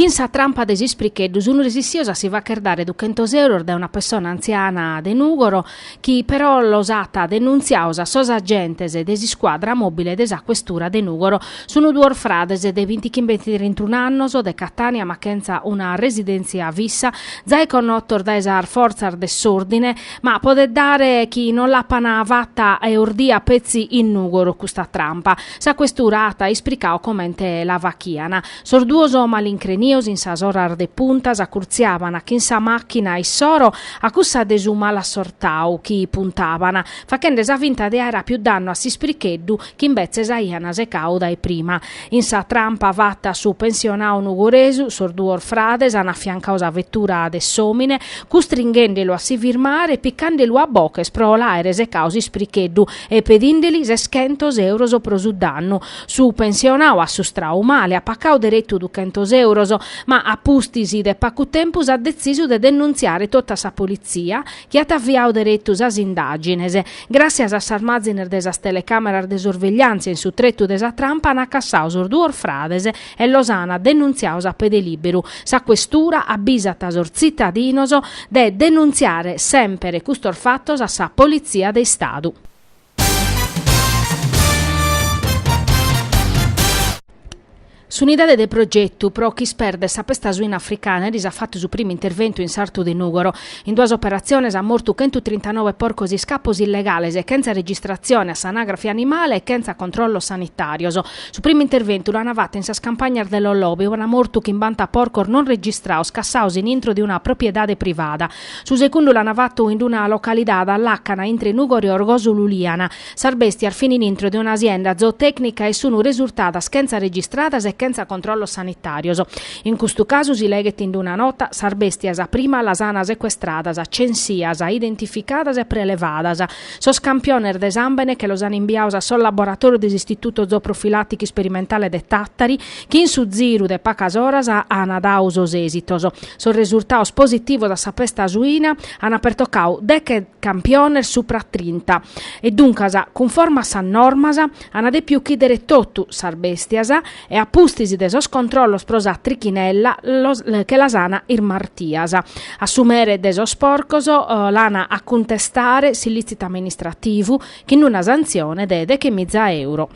Chin sa trampa de s'ispricheddu sunu resissios a si facher dare duchentos euros dae una pessona antziana de Nùgoro chi però los at denuntziaos a sos agentes de s'iscuadra mòbile de sa questura de Nùgoro. Sunt duos frades de bintichimbe e trintunu annos de Catània ma chentza una residèntzia fissa, zai connotos dae sas fortzas de s'òrdine, ma podet dare chi non l'apan fata e ordia petzi in Nùgoro custa trampa. Sa questura at ispricau comente la fachian. Sos duos malincrenios in sas oras de punta s'acurtziaban chin sa machina issoro a cussa de su malassortau chi puntaban, fachende sa finta de aer apiu dannu a s'ispricheddu chi imbetzes aian secau dae prima. In sa trampa fata a su pensionau nugoresu, sos duos frades an affiancau sa vettura de s'omine, custringhendelu a si firmare e piccandelu a boches pro l'aere secau s'ispricheddu, e pedindeli seschentos euros pro su dannu. Su pensionau assustrau male, at pacau deretu duchentos euros, ma a pustis de pacu tempus at detzisu de denuntziare totu a sa politzia, chi at aviau deretu sas indàgines. Gràtzias a sas mazines de sas telecàmeras de sorvegliàntzia in su tretu de sa trampa ant cassau sos duos frades e los ana denuntziaos a pede liberu. Sa Questura abbisat sos tzittadinos de denuntziare semper custos fattos a sa Polizia de Istadu. S'Unidade de Progetu pro ch'isperder sa pesta suina africana eris at fattu su primu interventu in sartu de Nùgoro. In duas operatziones at mortu chentu trintanobe porcos iscapos illegales, chentza registratzione a s'anagrafe animale e chentza controllos sanitàrios. Su primu interventu l'ana fatu in sas campagnas de Lollobe ue ana mortu chimbanta porcos non registraos cassaos in intro de una propriedade privada. Su secundu l'ana fatu in una localidade a làcana intre Nùgoro, Orgòsolo e Uliana. Sas bèstias fin in intro de una asienda zootècnica e sun resurtadas chentza registradas e chentza controllos sanitàrios. In custu casu si leghet in una nota, sas bèstias prima las ana secuestradas, censias, identificadas e prelevadas, Sos campiones de sàmbene che los an imbiaos a sos laboratòrios de s'Istituto Zooprofilàticu Isperimentale de Tàtari, chi in su ziru de pacas oras an dau sos èsitos. Sos resurtaos positivos a sa pesta suina an pertocau deche campiones supra a trinta e duncas, cunforma a sas normas, an dèpiu uchìdere totu sas bèstias, e a pustis de sos controllos pro sa trichinella che las ana irmartias. A su mere de sos porcos l'ana a cuntestare s'illìtzitu amministrativu chin una santzione de dechemiza euro.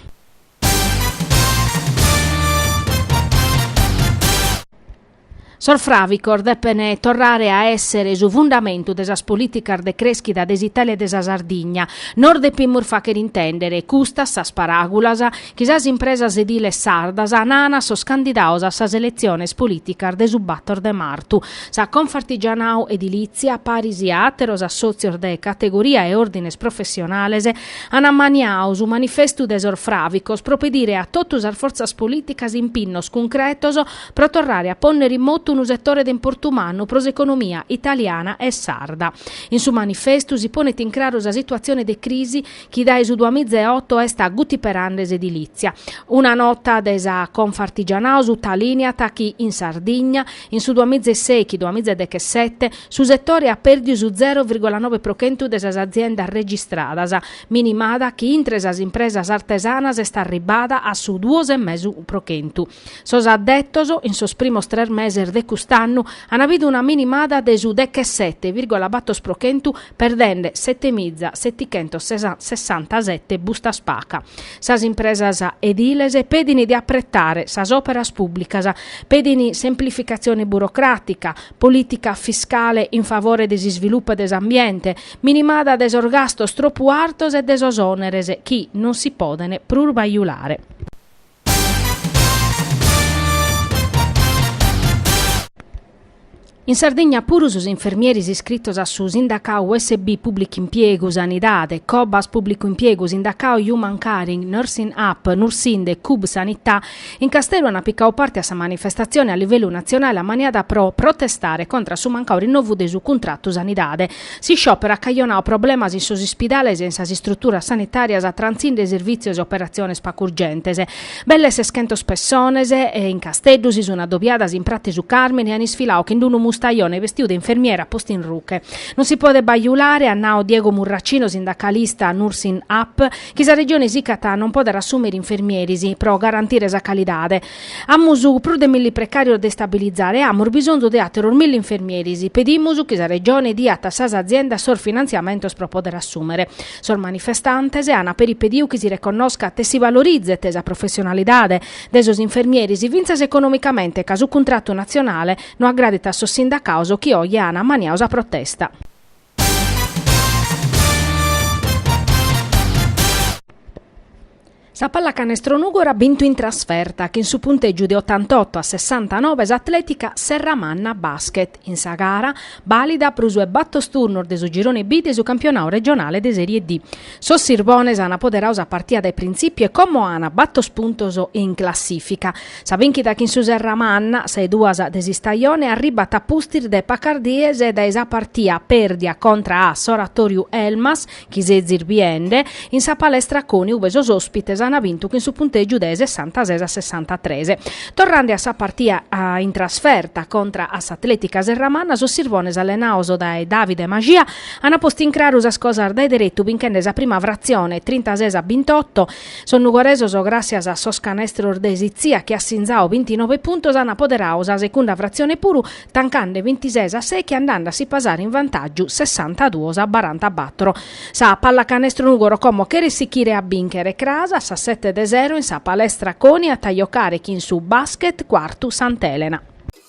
Sos fràvicos depen torrare a èssere su fundamentu de sas polìticas de crèschida de s'Itàlia e de sa Sardigna. Nos depimus fàghere intèndere custas sas paràgulas chi sas impresas ediles sardas naan a sos candidados a sas eletziones polìticas de su bator de martu. Sa Confartigianau Edilìtzia, paris a àteros assòtzios de categoria e òrdines professionales, an ammaniadu su manifestu de sos fràvicos pro pedire a totu sas fortzas polìticas impinnos cuncretos pro torrare a pònnere in motu unu setore de importu mannu pro s'economia italiana e sarda. In su manifestu si ponet in craru sa situatzione de crisi chi dae su duamiza e oto est agutiperende s'edilìtzia. Una nota de sa Confartigianau sutalìniat chi in Sardigna, in su duamiza e sèichi duamiza e dechesete, su setore at pèrdiu su zero virgola nove pro chentu de sas aziendas registradas, minimada chi intre sas impresas artesanas est arribbada a su duos e mesu pro chentu. Sos addetos, in sos primos tres meses de cust'annu, an àpidu una minimada de su dechesete virgola batos pro chentu perdende setemiza setichentos sessantasete bustas paga. Sas impresas ediles pedin de apretare sas operas pùblicas, pedin semplificatzione burocràtica, polìtica fiscale in favore de s'isvilupu de s'ambiente, minimada de sos gastos tropu artos e de sos òneres chi non si poden prus bajulare. In Sardigna puru sos infermieris iscritos a su sindacau USB Pùblicu Impiegu, Sanidade, Cobas Pùblicu Impiegu, Sindacau Human Caring, Nursing Up, Nursind, Cub Sanità, in Casteddu ant picau parte a sa manifestatzione a livellu natzionale ammaniada pro protestare contra su mancau rinnovu de su cuntratu sanidade. S'isciòperu at cajonau problemas in sos ispidales e in sas istruturas sanitàrias trantzinde sirvìtzios e operatziones pagu urgentes. Belle seschentos pessones in Casteddu si sunt adobiadas in Prati su Càrmini e an isfilau chin unu mustajone bestiu de infermiera postu in ruche. Non si podet bajulare, at nau Diego Murracino, sindacalista Nursing Up, chi sa Regione sicat a non poder assùmere infermieris pro garantire sa calidade. Amus prus de milli precàrios de istabilizare e amus bisonzu de àteros milli infermieris. Pedimus chi sa Regione diat a sas aziendas sos finantziamentos pro pòdere assùmere. Sos manifestantes an peri pediu chi si reconnoscat e si valorizet sa professionalidade de sos infermieris fintzas economicamente ca su cuntratu natzionale no agradit a sos sindacados chi oje an ammaniadu sa protesta. Sa pallacanestro Nùgoro at bintu in trasferta chin su puntègiu de otantoto a sessantanobe s'Atlètica Serramanna Basket in sa gara bàlida pro su 'e battos turnos de su girone B de su campionadu regionale de Sèrie D. Sos Sirbones an apoderau sa partia dae printzipiu e como an batos puntos in classìfica. Sa bìnchida chin su Serramanna, sa 'e duas de s'istajone, arribat a pustis de pacas dies dae sa partia pèrdia contra a s'Oratòriu Elmas, chi sezis biende, in sa Palestra Coni ube sos òspites an bintu chin su puntègiu de sessantases a sessantatres. Torrande a sa partia in trasferta contra a s'Atlètica Serramanna, sos Sirbones allenaos dae Davide Maxia Ana postu in craru sas cosas dae deretu binchende sa prima fratzione, trintases a bintotto. Sos nugoresos, gràssias a sos canestros de Sitzia chi at sinzau bintinove puntos, an apoderau sa secunda fratzione puru, tancande bintises a sechi andande a si pasare in vantàgiu sessantaduos a barantabattor. Sa Pallacanestro Nùgoro como cheret sichire a bìnchere cras a sas sete de sero in sa palestra Coni at a jocare chin su Basket Quartu Sant'Elena.